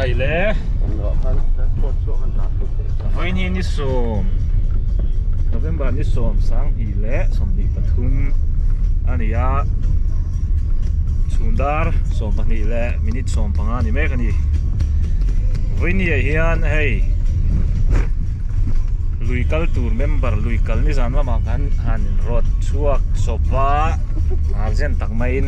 Khai le. Voi ni ni som. November ni som sang hi le som ni pathum ania. Sundar som pani le minute som panga ni mek ani. Voi ni hian hei lui kal tur member lui kal ni zan lama kan han rot chuak sopa arjen tak mai in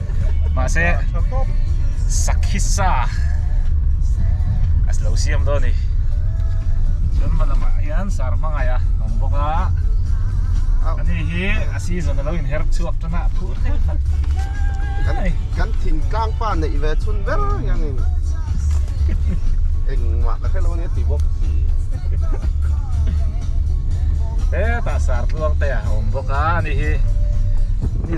Mahse Sakhisa a lo siam dawn a ni. Chuan hma lamah hian sar hmangaih a awm bawk a. A ni hi a season a lo in her chhuak tan a, phur thei khat. Kan thin tlang pa neih ve chhun ber hian in engmah ka hrelo nia ti bawk si. Hetah sar tluang te a awm bawk a, a ni hi.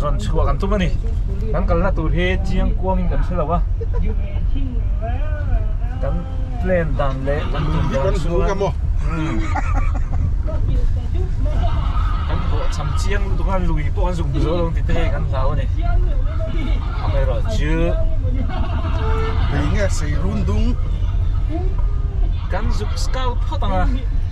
zawn chhuah kan tum a ni kan kalna tur hi chiang kuang in kan hre lo a kan plan dan leh kan tum dan chuan kan hawhchham chiang lutuk a lui pawh kan zuk hmu zo lo ni tihte hei kan hlau a ni amaherawh chu kan zuk scout phawt ang a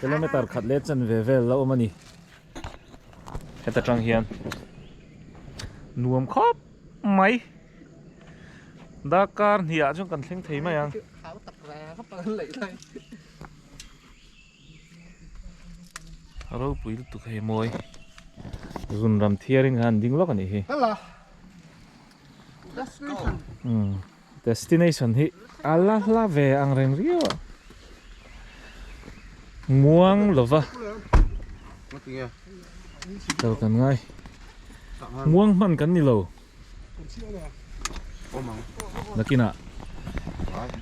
Kilometer khat leh chen ve vel la awm a ni. Heta tang hian nuam khawp mai. Darkar hniah chuan kan thleng thei mai ang. Khau tak reng a pang leih lai. A ropui lutuk hei mawi. Zunram thiarin kha an ding lawk a nih hi. Let's go. Destination hi a la hla ve ang reng riau a. Muang lova lo kan ngai. Muang hman kan ni lo. Nakina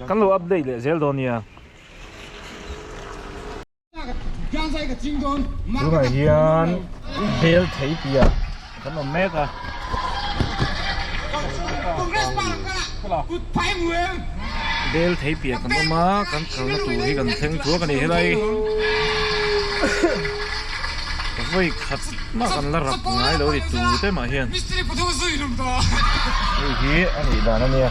kan lo update leh zel dawn nia. Tunah hian bel thei pia kan awm mek a. Bel thei pia kan awm a, kan kalna tur hi kan thleng thuak a ni helai. Ka vawi khat mah kan la rap ngai lo ri tute mah hian. Hei hi a nih dan a nia.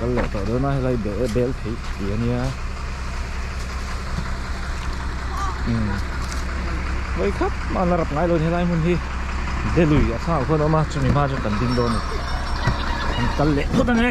kan leh tawh dawn a helai bel bel thei si ania umm mawi khap mahna rap ngai lohin helai hmun hi de lui a sang ah khawn a awm a chumi hma chu kan ding dawn a ni kan kal leh phawt a ni.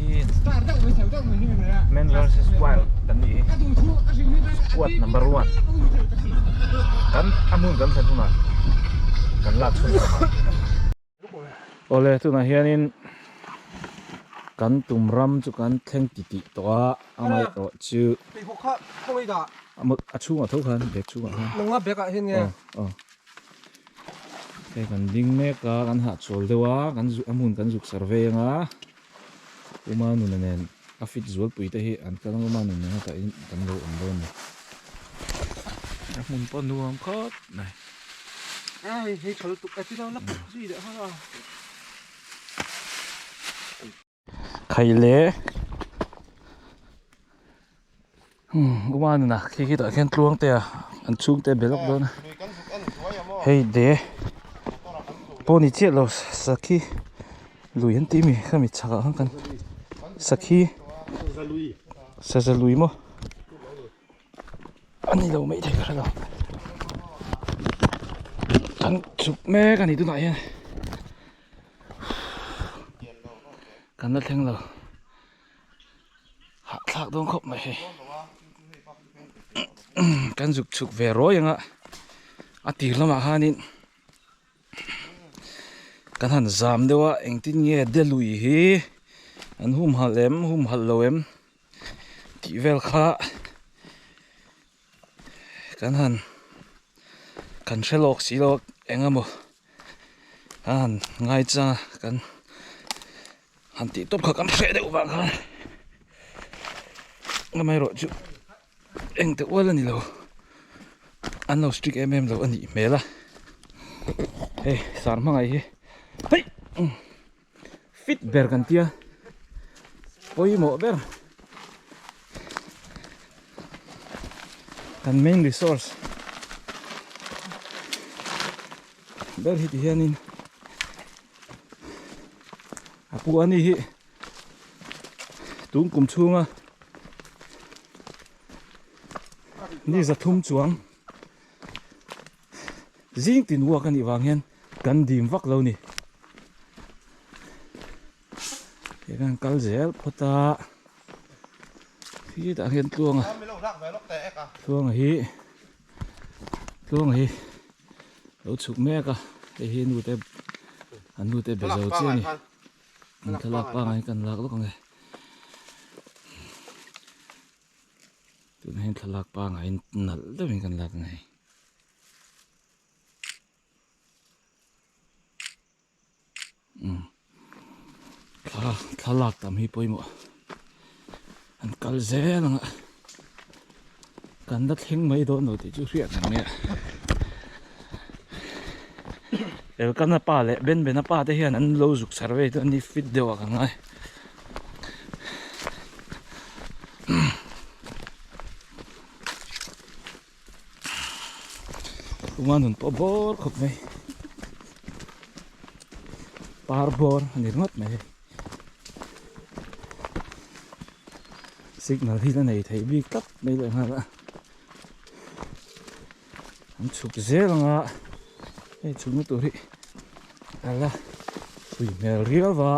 Awle tunah hianin kan tum ram chu kan thleng ti ti tawh a a ngaih rawh chu a chhungah tho khan bag chhungah khan hei kan ding mek a kan hahchhawl deuh a kan zuk a hmun kan zuk serve anga. Uma nuna nen a fit zualpui te hi an tlang Uma nun nen a tah in kan lo awm dawn ni. A hmun pawh nuam khawp mai. Ai hei chhal tuk a ti lo lak tak zui leh hang a. Khaih leh. Umanin ah khi khi tah khian tluang te ah an chhung te a be lawk dawn a hei de pawh ni chiah lo sakhi lui an tih a mi khami chhak ah khan kan sakhi saza lui maw a ni lo mai thei ka hre lo kan chhuk mek a ni tunah hian kan la thleng lo. hahthlak dawn khawp mai hei kan zuk chhuk ve ruai anga a tir lamah hianin kan han zam deuh a engtin nge de lui hi an humhalh em humhalh lo em tih vel kha. Kan han kan hre lawk si lawk eng emaw kan han ngai chang a kan han tih tawp kha kan hre deuh vang khan amah erawh chu engte ual a ni lo an lo strict em em lo a nih hmel a hei sar hmangaih hi heih. fit ber kan tia pawimawh ber kan main resource ber hi ti hianin a pu ani hi tun kum chhunga ni za thum chuang Zing tin uak anih vang hian kan dim vak lo ni. Kei kan kal zel phawt a. Hi tah hian tluanga. Tluanga hi. Tluanga hi. Lo chuk mek a. Hei hi nu te. An nu te bezo che ni. An thalak pa ngai kan lak lawk ang e. Tun hian thalak pa ngai nalh deuhin kan lak ang e. thlalak tam hi pawimawh an kal zel ang a kan la thleng mai dawn lo tih chu hriat reng mai a elkana pa leh benbena pa te hian an lo zuk survey dawn a ni fit deuh ah kan ngai umm. Tunga nun pawh bawr khawp mai Par bawr a ni ringawt mai Signal hi la nei thei bik tak mai leh nghal a An chhuk zel ang a hei chhuk na tur hi a la hui hmel riau va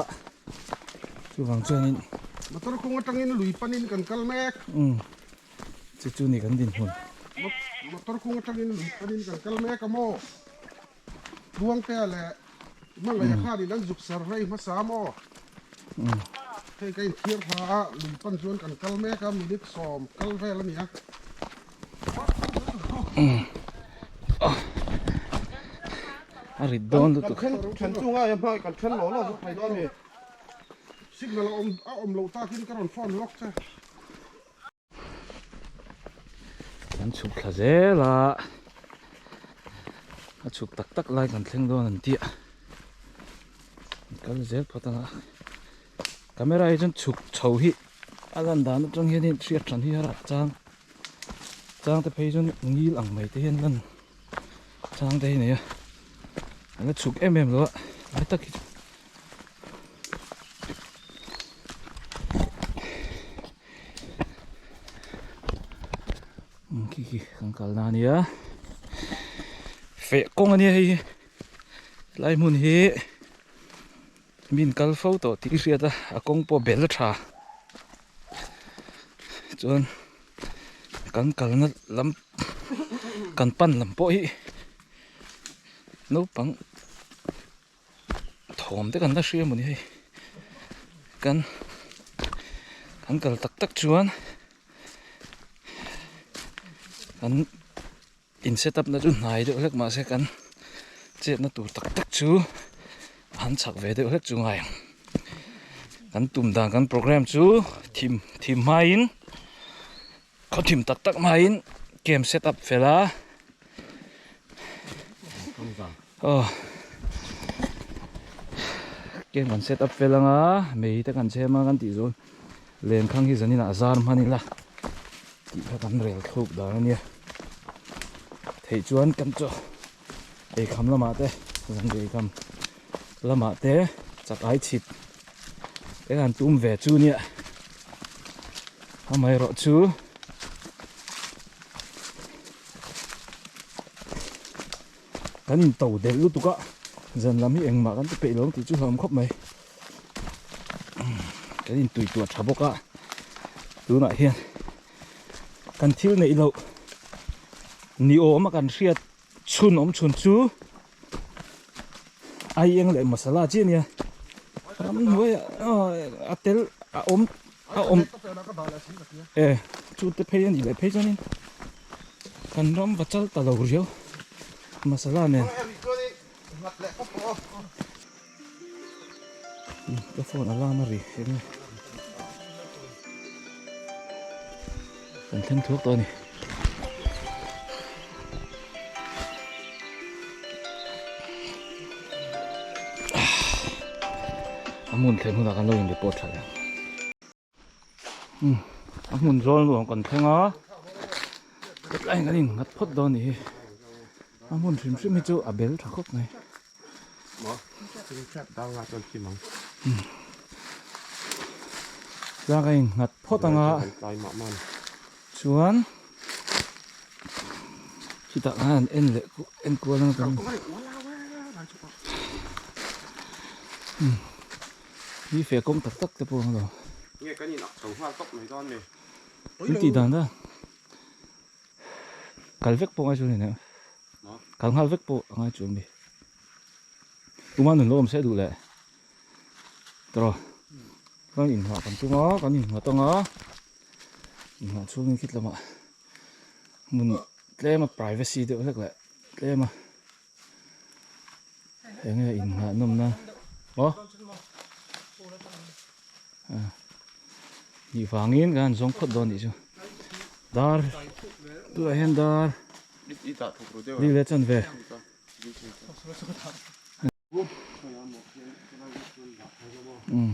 Chuvang chuan in Motor kawng atangin lui panin kan kal mek. chu chu ni kan dinhmun motor kung atangin lui panin kan kal mek a maw buangtea leh hmangaih a khanin an zuk ser rei hmasa a maw hei ka inthiar hla a lui pan chuan kan kal mek a minute sawm kal vel a ni a a rit dawn lutuk kan then then chunga i hmai kan then lo lo vek phei dawn a ni signal a awm a awm lo takin ka rawn phone lawk che. Kan chhuk thla zel a, a chhuk tak tak lai kan thleng dawn an tih a, an kal zel phawt ang a, camera hi chuan chhuk chho hi a lan dan atang hian hei an hriat than hi a rak chang, chang te phei hi chuan ngil ang mai te hian a lan. Chang te hi neia a la chhuk em em lo a ngai tak hi khi khi kan kal na nia feh kawng ania hei hi tlai hmun hi Min kal fo tawh tih ka hriat a, a kawng pawh bel a tha. Chuan kan kalna lam kan pan lam pawh hi naupang thawm te kan la hria maw ni hei. Kan kan kal tak tak chuan kan. In set up na chu hnai deuh hlek mah se kan chetna tur tak tak chu a han chak ve deuh hlek chu ngai ang. Kan tum dan kan program chu thim thim hmaiin khaw thim tak tak hmaiin kem set up fel a. Aw. Kem kan set up fel ang a, mei te kan chhem a kan tih zawn. Len khang hi zanin a zar hman ila tih kha kan rel thluk dan ania theih chuan kan chu eikham lamah te zanriah eikham lamah te chak ai chhit eng an tum ve chu nia amaherawh chu kan into del lutuk a zan lam hi engmah kan ti peih lo ang tih chu hlauhawm khawp mai. kan in tui tua tha bawk a tunah hian kan thil neih loh ni awm a kan hriat chhun awm chhun chu ai eng leh masala chiah nia ram hnuaia a tel a awm a awm e chu te phei a nih leh phei chuanin kan ram va chal ta lo riau masala nen Ka phone a lam a ri em nge? Kan thleng thuak tawh a ni. A hmun theih hunah kan lo in report tha em. umm a hmun zawl nu ang kan thleng a hetlai in kan in nghat phawt dawn a nih hi a hmun hrim hrim hi chu a bel tha khawp mai tlâng a in nghat phawt ang a chuan chutah khan an en leh en kual ang a kan ni umm. Ni fe kawng tak tak te pawh ang lo. Nge kan in ak chho nghal tawp mai dawn le. Kan tih dan dawn. Kal vek pawh ngai chu nene. Kal nghal vek pawh ngai chu mi. Tuma nun lo awm se duh le. Tro. Kan in hah kan tunga, kan in hah tanga. In hah chung in khit lama. Mun tlema privacy deuh vek le. Tlema. Eng nge innghahnawmna aw nih vangin kan zawng phawt dawn nih chu dar tunah hian dar dik leh chhan ve umm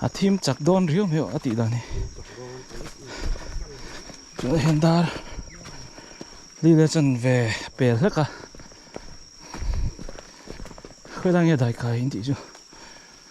a thim chak dawn riau mai a tih dan hi tuna hian dar hlil a chan ve pel hlek a khawilai nge daikai in tih chu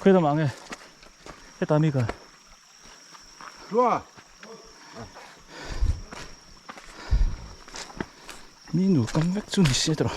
Khuya lamah nge heta mi ka Hlua Mi nu kam vek chu ni se tawh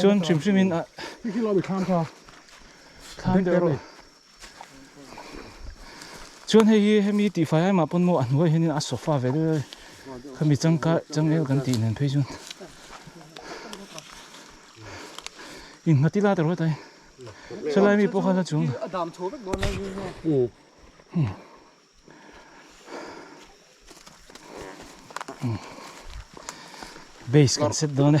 Chuan hrim hrim in ah thlan deuh rawh. Chuan hei hi hemi tihfai ai mah pawn maw a hnuai hian in a sofa ve deuh deuh a, khami changkar changel kan tih nen phei chuan in nghat ila ta rawh ta in. Chulai mi pawh kha hla chung. Base kan set dawn e.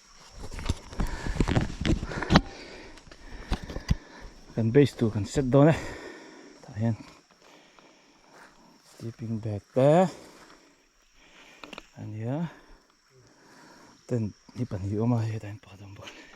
kan base tur kan set dawn a tah hian sleeping bag te a nia tent hi pahnih a awm a hetah hian pakhat a awm bawk a ni ah.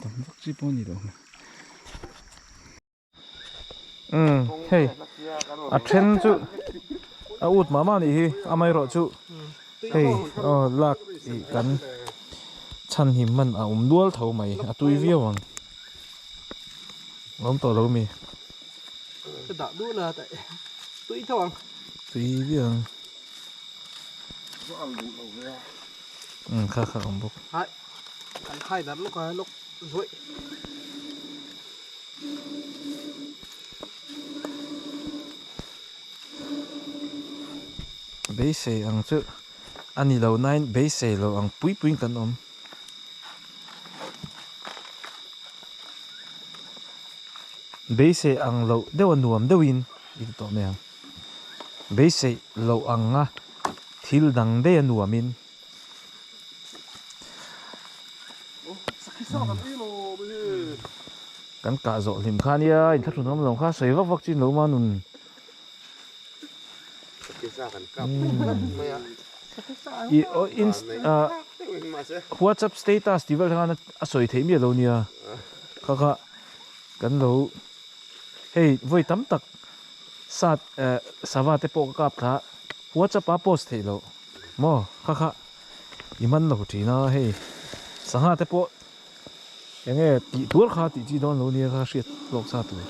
tam vak chi pawh ni loh um hei a then chu a ut mah mah nih hi amaherawh chu hei aw lak ih kan chhan him man a awm dual tho mai a tui viau ang awm tawh lo mi ka dah duh la tah eh tui tho ang tui viau ang um kha kha awm bawk. kan khai darh lawk a lock zawih beisei ang chu a ni loh na in beisei lo ang pui pui in kan awm beisei ang loh deuh a nuam deuh in i ti tawh mai ang beisei lo ang a thil dang deuh a nuam in. Kan kah zawh hlim kha nia in thlahrun ram lo kha sawi vak vak chin lo man nun WhatsApp status ti vel khan a sawi theih miah lo nia kha kha kan lo hei voi tam tak sat sava te pawh ka kap thla WhatsApp a post theih lo Maw kha kha i man lo thin a hei sangha te pawh enge tih tur kha tih chi dawn lo nia kha hriat lawk sa tur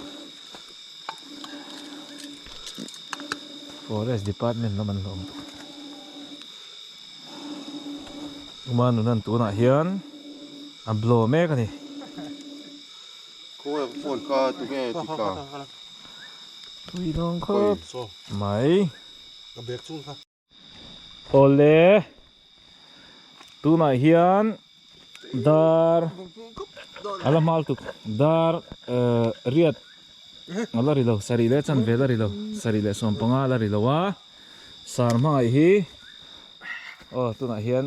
forest department lam an hlawm tawh uma nuna an tunah hian a blow mek a ni khawi ang phone kha tu nge ti ka thui dawng khawp mai ka bag chung kha. Awle tunah hian dar a la hmal tuk dar riat a la ri lo sarih leh chanve la ri lo sarih leh sawmpanga la ri lo a sar hmangaih hi aw tunah hian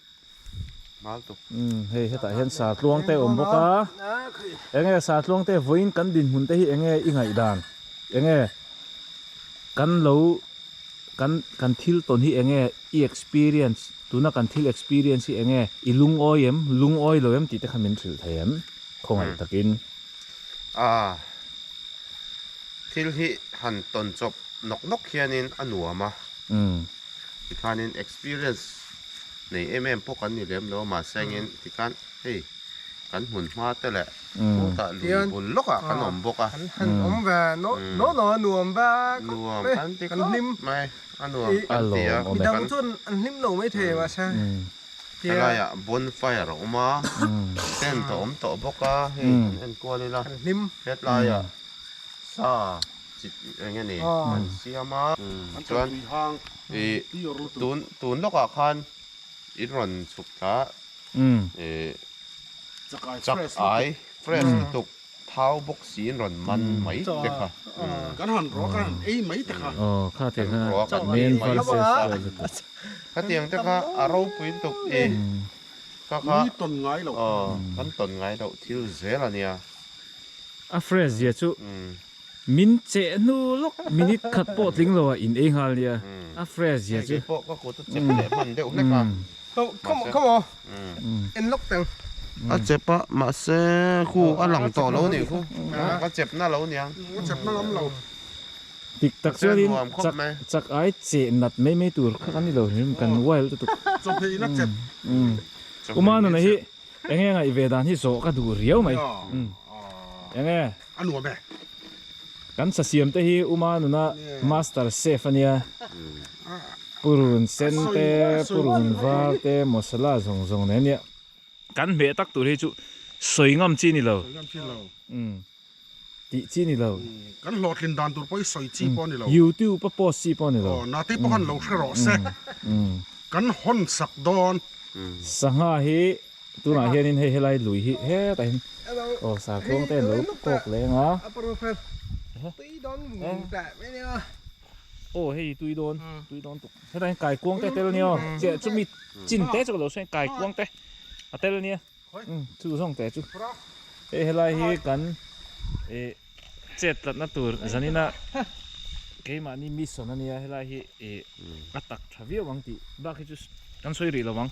hei hetah hian sartluang te a awm bawk a eng nge sartluang te vawiin kan dinhmun te hi eng nge i ngaihdan eng nge kan lo kan kan thil tawn hi eng nge i experience tuna kan thil experience hi eng nge i lungawi em lungawi lo em tih te kha min hrilh thei em khawngaih takin a thil hi han tawn chawp nawk nawk hianin a nuam a tikhanin experience nei em em pawh kan ni lem lo mahse angin tikhan hei kan hmun hma te leh sawtah lui bul lawkah kan awm bawk a, nuam kan ti khawp mai a nuam kan ti a, helaiah bonfire a awm a tent a awm tawh bawk a hei kan enkual ila hetlaiah sa chi eng nge ni kan siam a chuan. tun tun lawk ah khan in rawn chhuk ta chak ai fresh lutuk thau bawk si in rawn man mai te kha kan han ruah kan han ei mai te kha khatiang te kha a ropui lutuk e kha kha kan tawn ngai lo kan tawn ngai lo thil zel ania a fresh zia chu. Min cheh hnu lawk minute khat pawh tling lo a in ei nghal nia a fresh zia chu. Kei pawh ka kut a chep leh hman deuh hlek a. Come on come on en lawk teng. A chep a mahse khu a lang tawh lo nih khu ka chep na lo nia. Ka chep na ngam lo. Dik tak chuan in chak chak ai che nat mai mai tur kha ka ni lo hlim kan wild lutuk. Chawhmeh ina chep. Uma nuna hi eng eng a i ve dan hi zawh ka duh riau mai. Enge. A nuam e. Kan thlasiam te hi uma nuna master chef ania, purun sen te purun var te masala zawng zawng nei ania. Kan hmeh tak tur hi chu sawi ngam chi nilo. Sawi ngam chi lo. Umm tih chi nilo. Kan hlawhtlin dan tur pawh hi sawi chi pawh nilo. YouTube a post chi pawh nilo. Aw nate pawh khan lo hre rawh se. Kan hawn sak dawn. Sangha hi Tunah hianin hei helai lui hi hetahin aw sar tluang ten lo kawk leng a. A prophet tui dawn vung vung teh mai nia. Aw hei tui dawn tui dawn tuk hetahin kai kuang te tel nia che chumi chin te chu ka lo hre kai kuang te a tel nia chu zawng te chu hei helai hi kan e chet tlatna tur zanina keimahni mi sawn ania helai hi e a tak tha viau ang tih bak hi chu kan sawi rih lo ang.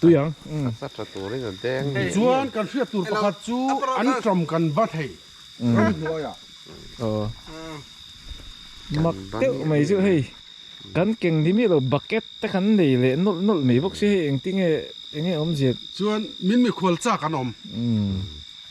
Tichuan kan hriat tur pakhat chu an ṭawm kan ba thei ram hnuaia. Mak deuh mai chu hei kan keng ni mi lo bucket te kan nei leh nawlh nawlh mai bawk si hei engtinge enge awmzia. Chuan min mikhual chak an awm.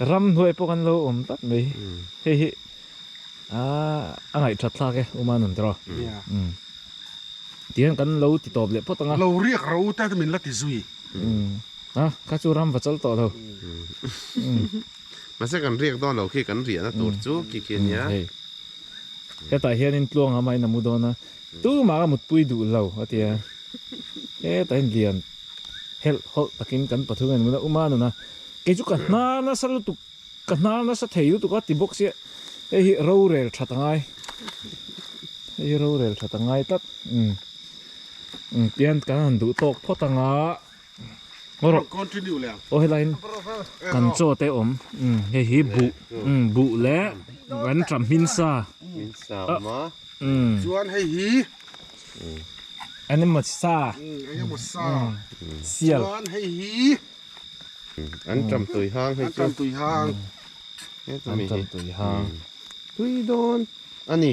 Ram hnuai pawh kan lo awm tlat mai. Hei hi a ngaih that thlak e Uma nun tiraw? Tihian kan lo ti tawp leh phawt ang a. Lo riak ro u tat min la ti zui. A, kha chu ram va chawlh tawh lo. Mahse kan riak dawn lo khi kan riahna tur chu khi khi a nia. Hetah hianin tluanga mah in a mu dawn a. Tumah ka mutpui duh lo, a ti a. Heta in lian helh hawlh takin kan pathum en ngun a um a, nun a, kei chu ka hnar nasa lutuk, ka hnar nasa thei lutuk a ti bawk si a, hei hi rorel that a ngai, hei hi rorel that a ngai tlat, um, um, pian kan han duh tawk phawt ang a. aw helai in kan chaw te awm hei hi buh buh leh kan tah hming sa chuan hei hi animal sa sial chuan hei hi an tam tui hang hei chu an tam tui hang tui dawn a ni.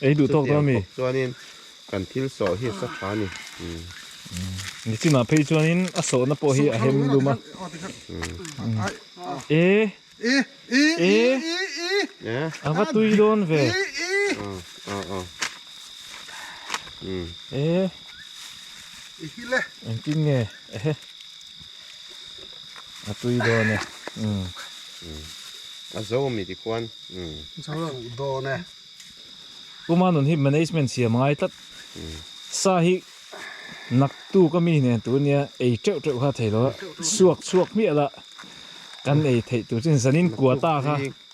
Ei duh tawk dawn mi. Chutiang bawk chuanin kan thil sawh hi a sa tha a ni. Nichinah phei chuanin a sawhna pawh hi a hem dum a. E. E. E. A va tui dawn ve. E. Engtin nge. Ehe. A tui dawn e. Umm. Umm. A zo mi ti khuan. Umm. Zo lo dawn e. Puma nun hi management siam a ngai tlat. Umm. Sa hi nak tu ka mi nen tur nia ei teuh teuh kha thei lo a. Suak suak hmiah lah kan ei theih tur chin zanin kuata kha.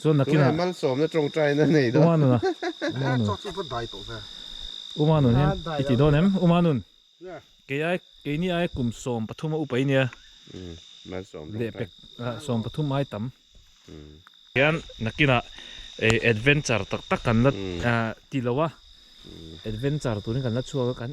Chuan nakin ah. Tunah malsawmna tawngtaina nei dawn. Umanun a, Umanun. Chau chu va dai tawh ve. Umanun hian i ti dawn em? Umanun. Kei ai, kei ni ai kum sawm pathum a upai nia. Umm, malsawm tawngtai. Lehpek ah sawm pathum ai tam. Umm. Hian nakin ah ei adventure tak tak kan la ti lo a. Adventure turin kan la chhuak a kan.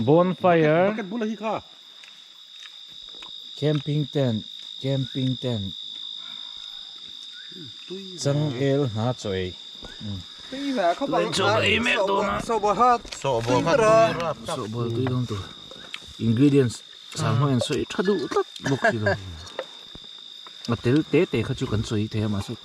Bonfire Camping tent Camping tent Changel hna chawi Ingredients Chang hmangin sawi tha duh tlak bawk si lo a tel te te kha chu kan sawi thei a mahse.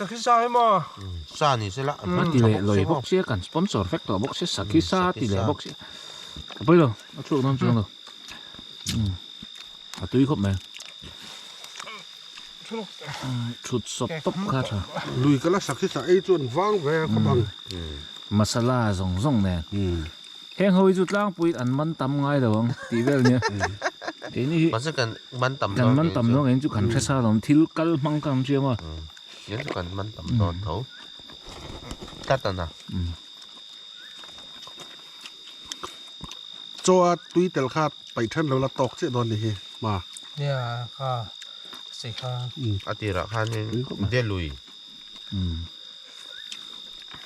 Sakhi sa hi maw? Sa ni se lah. Ka ti leh lawi bawk sia kan sponsor vek tawh bawk sia sakhi sa a ti leh bawk sia. A pawi lo a chhuak dawn chuang lo. A tui khawp mai. Thut sawp tawp kha tha. Lui ka la sakhi sa ei chuan vang ve khawp ang. Masala zawng zawng nen. Heng ho hi chu tlangpuiin an man tam ngai lo ang tih vel a nia. Keini hi Mahse kan man tam dawn kan man tam dawn kan chu kan hresa dawn thil kal hmang khan an siam a. Kan chu kan man tam dawn tho tlat a na. Chaw a tui tel kha paih than lo la tawk chiah dawn ni hi hma. Nia kha si kha. A tirah khanin Delui.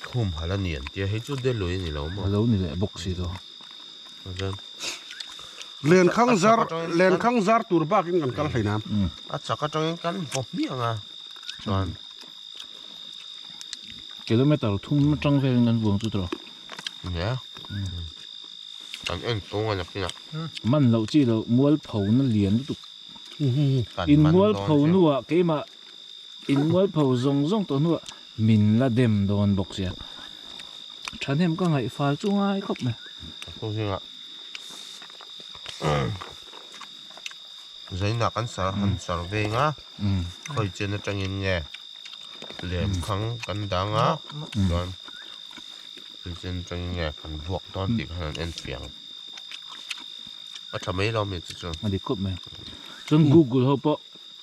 Khum hala ni an tia hei chu delui a ni lo maw? A lo ni leh bawk si tawh. Tah chuan Lenkhang zar lenkhang zar tur bakin kan kal hlein a. A chak atangin kan vaw hmiang a chuan. Kilometer thum atang velin kan vuang chu tawh. Nia kan en chhung a la phina. Man loh chi loh mual phona lian lutuk. In mual pho nuah keimah In mualpho zawng zawng tawh hnuah min la dem dawn bawk sia. Thahnem ka ngaih fal chu ngai khawp mai. Chu zingah Zainah kan sar han sar veng a, khawi chian atangin nge lem khang kan dang a, chuan khawi chian atangin nge kan vuak dawn tih khan an enfiang. A tha mai lo a mi te chu. A dik khawp mai. Chuan Google ho pawh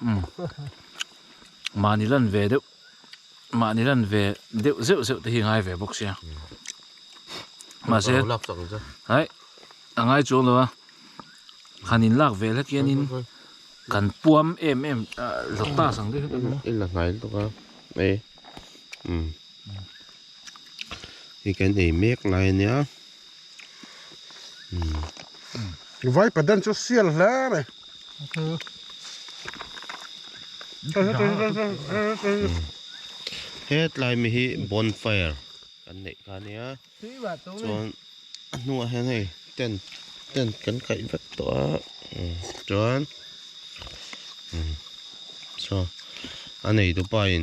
umm mahni lan ve deuh mahni lan ve deuh zeuh zeuh te hi a ngai ve bawk sia mahse haih a ngai chuang lo a han in lak vel hek hianin kan puam em em hlawk ta sang deuh hlek a ni a in la hnai lutuk a ei umm hei kan ei mek lai a nia. Vai padan chu sial hle mai. Hetlai mi hi bonfire an neih kha nia chuan a hnungah hian hei tent tent kan kaih vek tawh a chuan saw a neitu pain.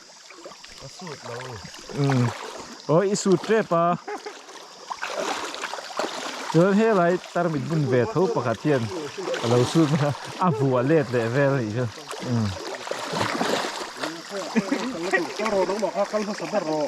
Ka suit lo. Umm. Aw i suit tep a. Chuan helai tarmit bun ve tho pakhat hian a lo suit mek a, a vu a let leh vel nih chuan umm. Kal hmasa ber rawh.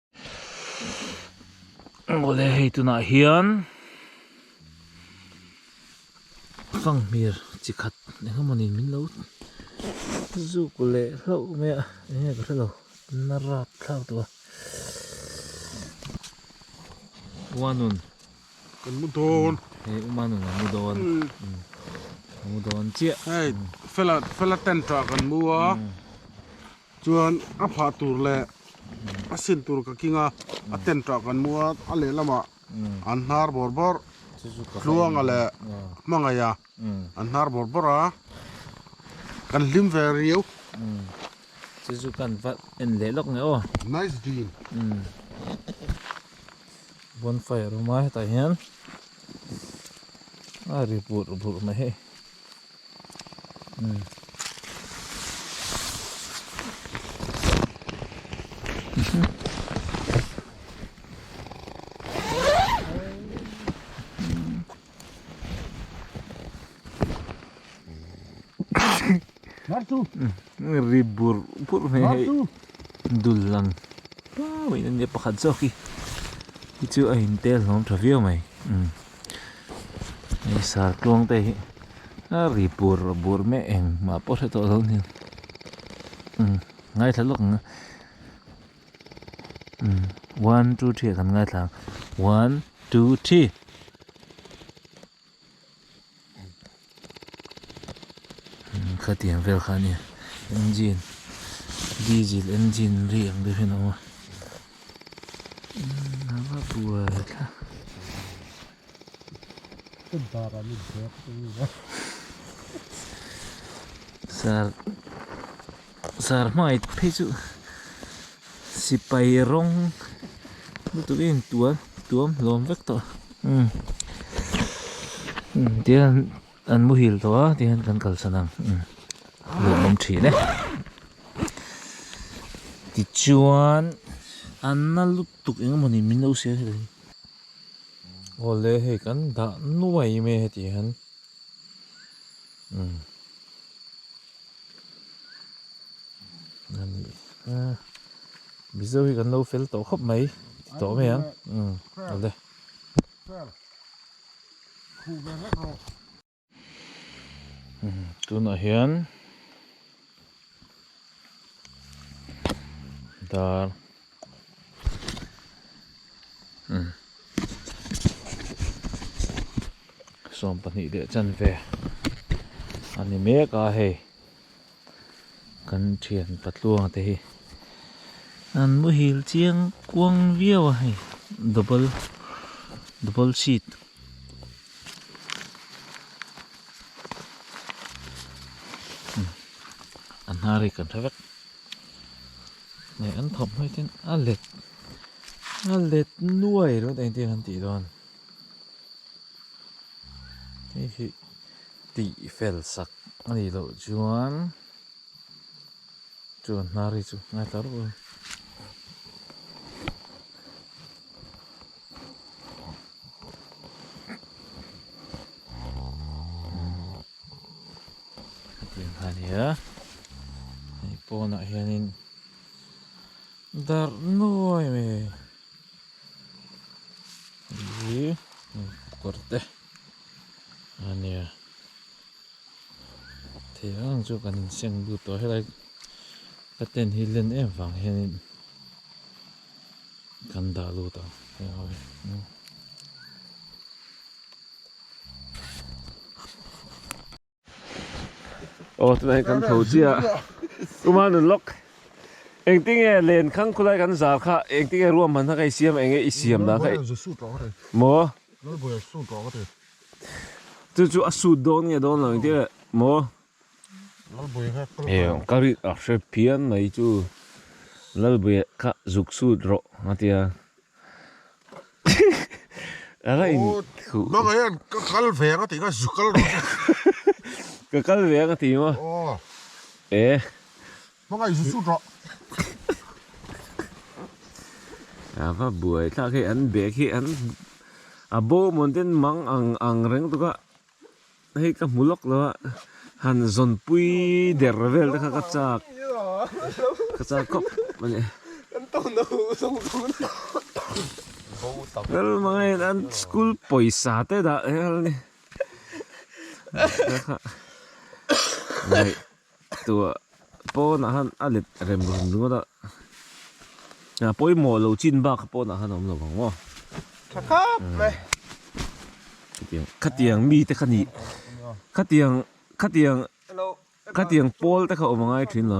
Awle hei tunah hian fanghmir chi khat engemaw ni min lo zuk leh hlauh mai a eng nge ka hre lo na rat thlak tawh a uanun kan mu dawn he uanun an mu dawn a mu dawn chiah hei fela fela tent ah kan mu a. Chuan a phah tur leh a sin tur ka king a, a tent tah kan mu a, a lehlamah an hnar bawr bawr, Hluanga leh Hmangaia an hnar bawr bawr a, kan hlim ve riau. Chu chu kan va en leh lawk nge aw. Nice din. Bonfire a awm a hetah hian a ri burh burh mai. ri bur bur mai hei dul lang puau in a nia pakhat zawk hi chu a intel hlawm tha viau mai. hei sartluang te hi a ri bur bur meh eng mah pawh hre tawh lo nia imm ngaithla lawk anga imm one two three a kan ngaithla a one two three. khatiang vel kha nia engine diesel engine ri ang deuh hian a awm a engine ava buai thla sal-- Zar hmai phei chu sipai rawng lutuk in tual tuam hlawm vek tawh umm umm tia an muhil tawh a tih hian kan kalsan ang umm nuam thin e tichuan an na lutuk eng emaw ni min lo siam thin ang hi awle hei kan dah nuai mai e tih hian umm. Mizo hi kan lo fel tawh khawp mai ti tawh mai ang ale tunah hian dar. sawm pahnih leh chanve a ni mek a hei kan thian patluanga te hi an muhil chiang kuang viau a hei double double seat an hnar hi kan hre vek. Hei an thawmhnawiah chuan a let a let nuai rawh a engtin an tih dawn hei hi tih fel sak a nih loh chuan chu an hnar hi chu ngai ta rawh a. Hetianga nia hei pawnah hianin darh nuai mai hei hi kawr te ania thei ang ang chu kan insiam lut tawh helai ka ten hi len em vang hianin. Kan dah lut ang hei ho hi nge. Aw tunah hian kan tho chiah a, tumah nun lawk. Engtin nge len khang khulai kan zar kha engtin nge ruam hman kha ka i siam a eng nge i siam dan kha i maw? Chu chu a sut dawn nge dawn lo engtin nge maw? Heng ka rit a hre phian mai chu Lalbui kha zuk sut rawh a ti a. Ka la in khuh. Aw bangah hian ka kal ve ang a tih kha zu kal rawh che. Ka kal ve ang a ti maw? Aw. E. Hmanga i zu sut rawh. A va buai tak hi an bag hi an a bawmawh den mang ang ang reng tuk a. Hei ka hmu lawk lo a, han zawnpui der vel te kha ka chak, ka chak khawp a ni. Kan tawh na hu zawng zawng a ni. Nalmangain hian an school pawisa te dah hial a ni. Kha ngaih. Tûr pâwnah hân a let rem rem ringawt a, a pawimawh lo chin bâk kha pâwnah hân a awm lo vang maw? Ṭha khâp mai. Khatiang, khatiang mite kha nih, khatiang, khatiang, khatiang pâwlte kha awm a ngai ṭhin lo.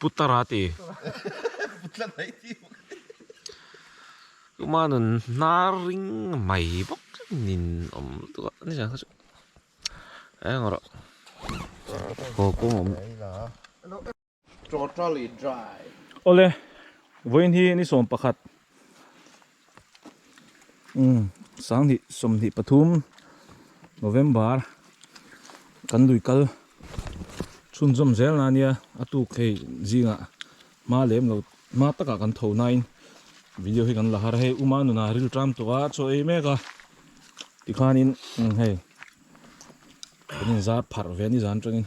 Putara ti tuma nun hnar ring mai bawk nin awm lutuk a ni ang kha chu eng emaw rawh. Totally dry. Awle, vawiin hi ni sawm pakhat, umm, sang hnih sawm hnih pathum, November, kan lui kal chhunzawm zel na nia, a tuk hei zingah hma lem lo, hma takah kan tho nain video hi kan la har a, hei uma nunah ril ṭam tawh a, a chaw ei mek a, tikhanin hei kan inzar pharh ve a nizan aṭangin.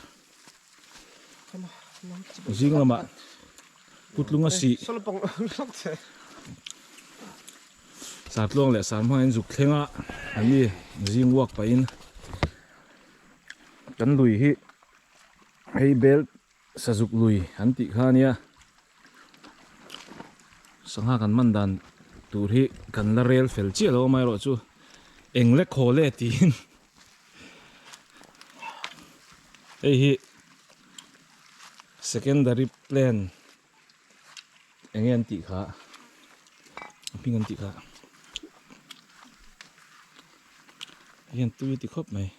Zing lamah putlung a sih. Sartluang leh sarhmangin zuk thlenga an ni zing uak pahin. Kan lui hi hei bel sazuk lui an tih kha ania. Sangha kan man dan tur hi kan la rel fel chiah lo amaherawhchu eng le khaw le tiin hei hi secondary plan eng nge an tih kha a hming an tih kha hei hian tui a ti khawp mai.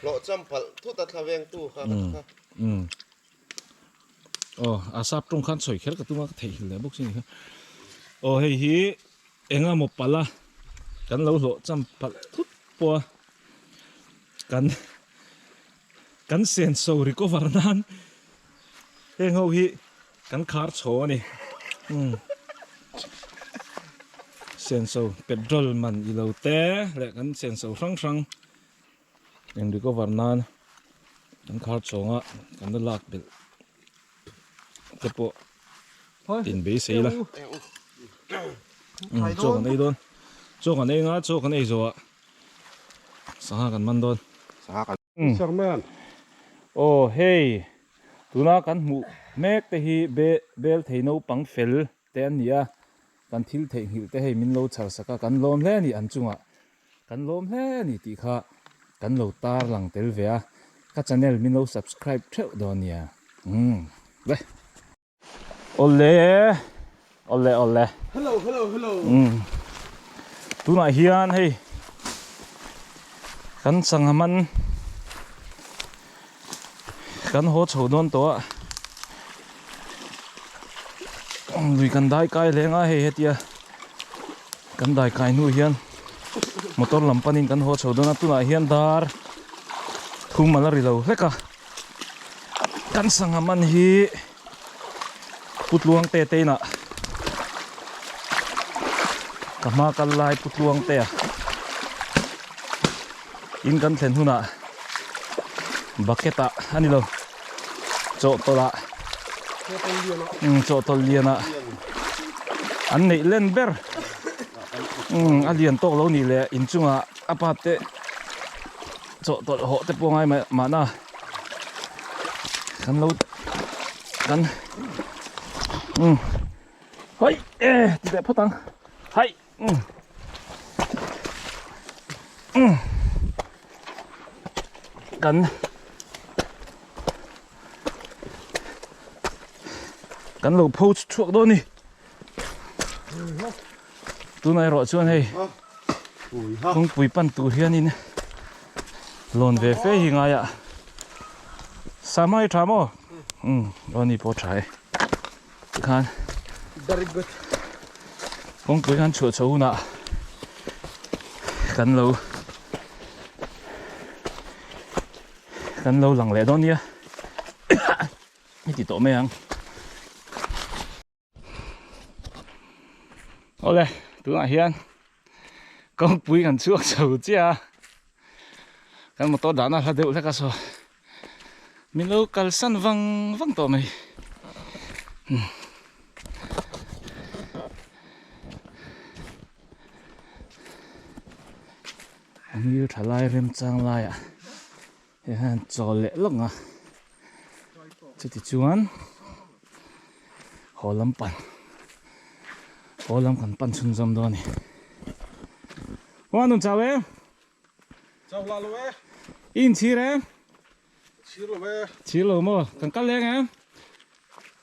Hlawhcham palh thut a thla veng tu kha ka ti kha. Aw a sap tawng khan chhawi kher ka tunga ka theihil leh bawk si ni kha. Aw hei hi enga maw pala kan lo hlawhcham palh thut pawha kan kan senso recover nan heng ho hi Kan khar chho a ni. Umm. Senso petrol man i lo te leh kan senso hrang hrang in recover nan kan khar chhawng a kan la lak belh te pawh tin beisei ila. Umm, chaw kan ei dawn. Chaw kan ei nga, chaw kan ei zawh a sangha kan man dawn. Sangha kan. Hi Sarman. Aw hei, tuna kan hmuh mek te hi be bel thei naupang fel te an ni a, kan thil theih nghilh te hei min lo chhar sak a, kan lawm hle a ni an chungah kan lawm hle a ni tih kha kan lo tarlang tel ve a, ka channel min lo subscribe theuh dawn nia, umm. Awle awle awle Hello hello hello umm tunah hian hei kan sangha man kan haw chho dawn tawh a lui kan dai kai hle ngai hei hetia kan dai kai hnu hian motor lam panin kan haw chho dawn a tunah hian dar thum a la ri lo hlek a. Kan sangha man hi putluang te te inah ka hma kal lai putluang te ah in kan thlen hunah bucket ah ani lo chawh tawlh ah um chawh tawlh lian ah an neih len ber um a lian tawk lo nih leh inchungah apa te Chawh tawlh hawh te pawh ngai mahna kan lo kan um hoi e ti leh phawt ang hai um um kan kan lo pho chhuak dawn ni Tuna erawh chuan hei kawngpui pan tur hianin lawn ve fe hi ngaia Sam a i tha maw? Um, lawn ni pawh a tha e. Tikhan Very good. Kawngpui han chhuah chho hunah kan lo kan lo lang leh dawn nia. I ti tawh mai ang. Awle, tunah hian kawngpui kan chhuak chho chiah a. Kan motor dahna a hla deuh hlek a saw. Min lo kalsan vang vang tawh mai. Angil thalai remchang laiah. Hei hian chawl leh lawng a, chuti chuan haw lam pan, haw lam kan pan chhun zawm dawn a ni. Ho an rawn chau e? Chau lah lo e. I inchhir e? Chhir lo e. Chhir lo maw? Kan kal leng e.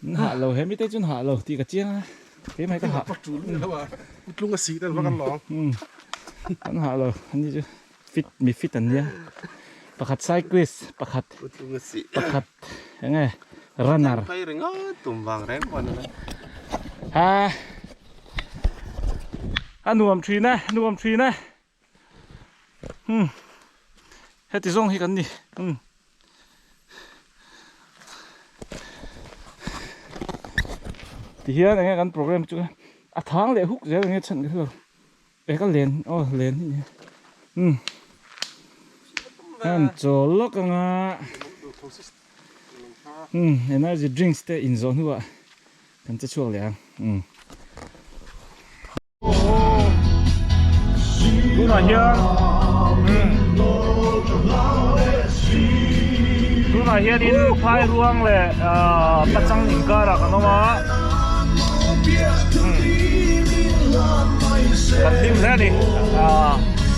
Min hah lo, he mite chuan hah lo tih ka chiang a, keimah hi ka hah. Putlung a sih tel vak an lawng. Kan hah lo, ani chu fit mi fit an nia, pakhat cyclist, pakhat pakhat enge runner. A nuam thin a, a nuam thin a. Hmm. Heti zong hi kan ni. Hmm. Ti hian enge kan program chu a thang leh huk zel enge chhan ka thilo. E ka len, oh len hi. Hmm. Kan chawl lawk anga. Hmm, energy drinks te in zawh hnuah kan che chhuak leh ang. Hmm. tunah hian tunah hian in phai ruang leh pachang inkara kan awm a kan hlim hle a ni.